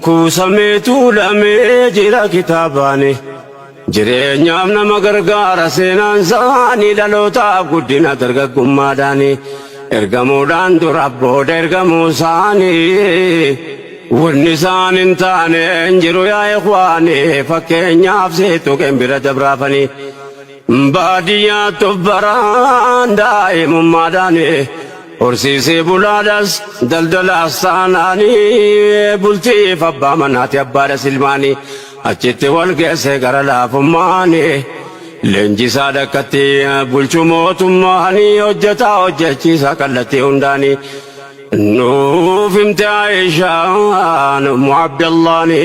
Kuusamee tuulamee jira kitaabaani. Jireenyaaf nama gargaara seenaan saani dhalootaaf guddina dargaggummaadhaani. Ergamuudhaan dura booda ergamuu saani. Wanni isaan hin taane hin jiru yaa ikhwaani. Fakkeenyaaf seetuqeen bira dabraafani. Baadiyyaa tubbaraan daa'imummaadhaani horsiisee bulaadhaas daldalaas taanaani bultiif abbaa manaati abbaadhas ilmaani achitti wal geesse gara laafummaani leenjisaa dhakkatti bulchu mootummaani hojjetaa hojjechiisaa kallattii hundaani nuuf himte Aayishaan ummu Abdallaani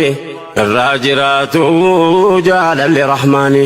irraa jiraatu jaalalli rahmaani.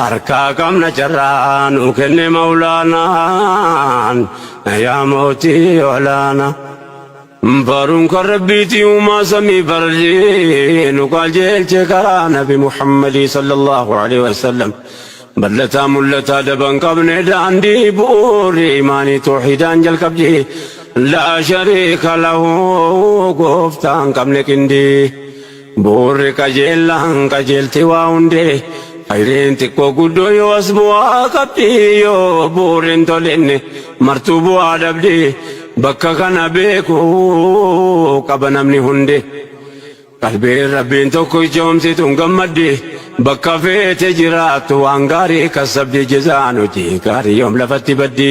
Harkaa qabna carraa nu kenne mawlaanaan yaa mootii olaana. Baruun kan rabbiiti uumaa samii barrii nu qajeelche karaa nabi Muhammadii sallallahu alaihi wasallam. Ballataa mul'ataa daban qabne daandii bu'uurri imaanii toohidaan jalqabdi. Laa shariika lahu gooftaan qabne qindii. Bu'uurri qajeellaan qajeelti waa hundee Khayriin xiqqoo guddoo yoo as bu'aa qabdi Yoo bu'uurri hin tolinne martuu bu'aa dhabdi Bakka kana beekuu qaba namni hundi Qalbiin Rabbiin tokko ichoomsituun gammaddi Bakka feete jiraattu waan gaarii kassabdi Jazaan hojii gaarii yoom lafatti baddi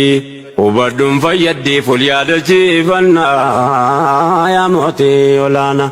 Hubadhuun fayyaddi ful yaadachiifannaa yaa mootii olaanaa.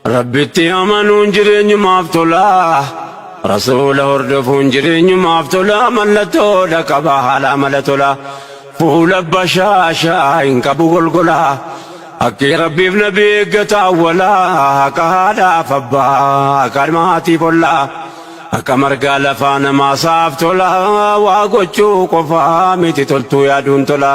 Rabbitti amanuun jireenyumaaf tola. Rasuula hordofuun jireenyumaaf tola. Mallattoodha qaba haala amala tola. Fuula bashaashaa hin qabu golgola. Haqqii Rabbiif nabii eeggata awwala. Haqa haadhaaf abbaa, haqa ilma haatiif olla. Haqa margaa lafaa namaa sa'aaf tola. Waa gochuu qofaa miti toltuu yaaduun tola.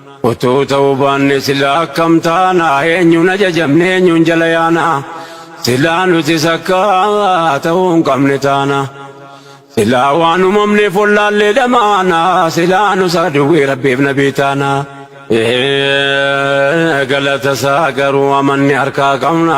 Utuu ta'uu baanne silaa akkam taana? Eenyuun ajajamne eenyuun jala yaana? Silaa nutis akka ta'uu hin qabne taana. Silaa waan uumamneef wallaallee dhamaana. Silaa nus aduwwii Rabbiif nabii taana. Ee, Galata isaa garuu amanne harkaa qabna.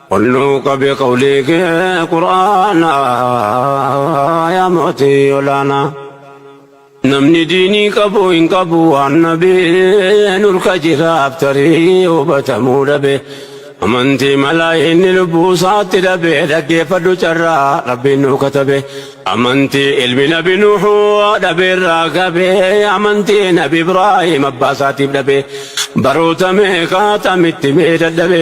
Olluu qabe qawlii kee qur'aana yaa mootii olaana namni diinii qabu hin qabu waan nabiin ulka jiraaf tarii hubatamuu dhabe amantii malaa inni lubbuu isaatti dhabe dhaggeeffadhu carraa rabbiin nuu katabe amantii ilmi nabi nuuhu dhabe irraa qabe amantii nabi ibraahim abbaa isaatiif dhabe baroota meeqaa tamitti mee dadhabe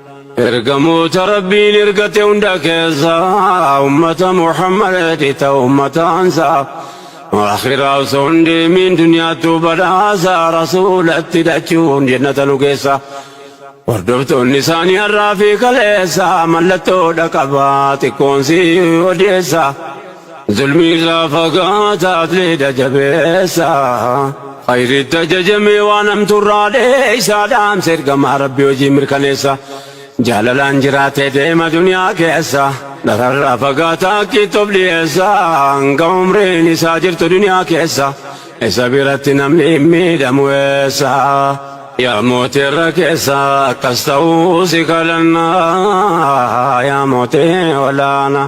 Ergamoota Rabbiin ergate hunda keessaa ummata Muhammaditti ta'u ummataansaa akhiraa osoo hin deemiin duniyaattuu badhaasaa rasuulatti dhachuun jennata nu geessa. Hordoftoonni isaanii har'aa fi kaleessa mallattoodha qabaa xiqqoonsii odeessa. Zulmii irraa fagaata atleeta jabeessa Khayritti ajajamee waan hamtu irraa dheessa Dhaamsa ergamaa rabbi hojii mirkaneessa Jaalalaan jiraatee deema duniyaa keessa Dhararraa fagaata akkiitti of dhiyeessa Hanga umriin isaa jirtu duniyaa keessa Isa biratti namni hin miidhamu eessa Yaa mootii irra keessa akkas ta'uu si kadhanna Yaa mootii olaanaa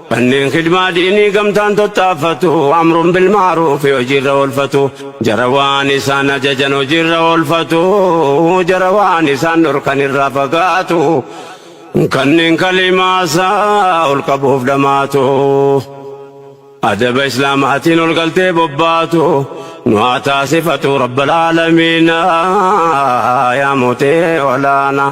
Manneen khidmaa diinii gamtaan tattaaffatu, amrun bil ma'ruufi hojiirra oolfatu, jara waan isaan ajajan hojiirra oolfatu, jara waan isaan dhorkan irraa fagaatu, kanneen kalimaa isaa ol qabuuf dhamaatu, adaba Islaamaatiin ol galtee bobbaatu, nu haa taasifatu Rabbal Aalamiina yaa Mootee Olaanaa.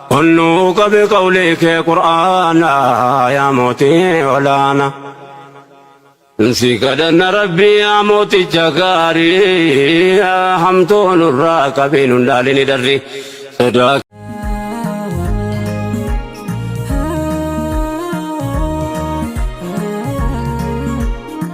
Onnuu qabi qawlii kee qur'aana yaa mootii olaana. Si kadhanna rabbii yaa mooticha gaarii hamtuu nurraa qabi nun dhaalini darri sodaa.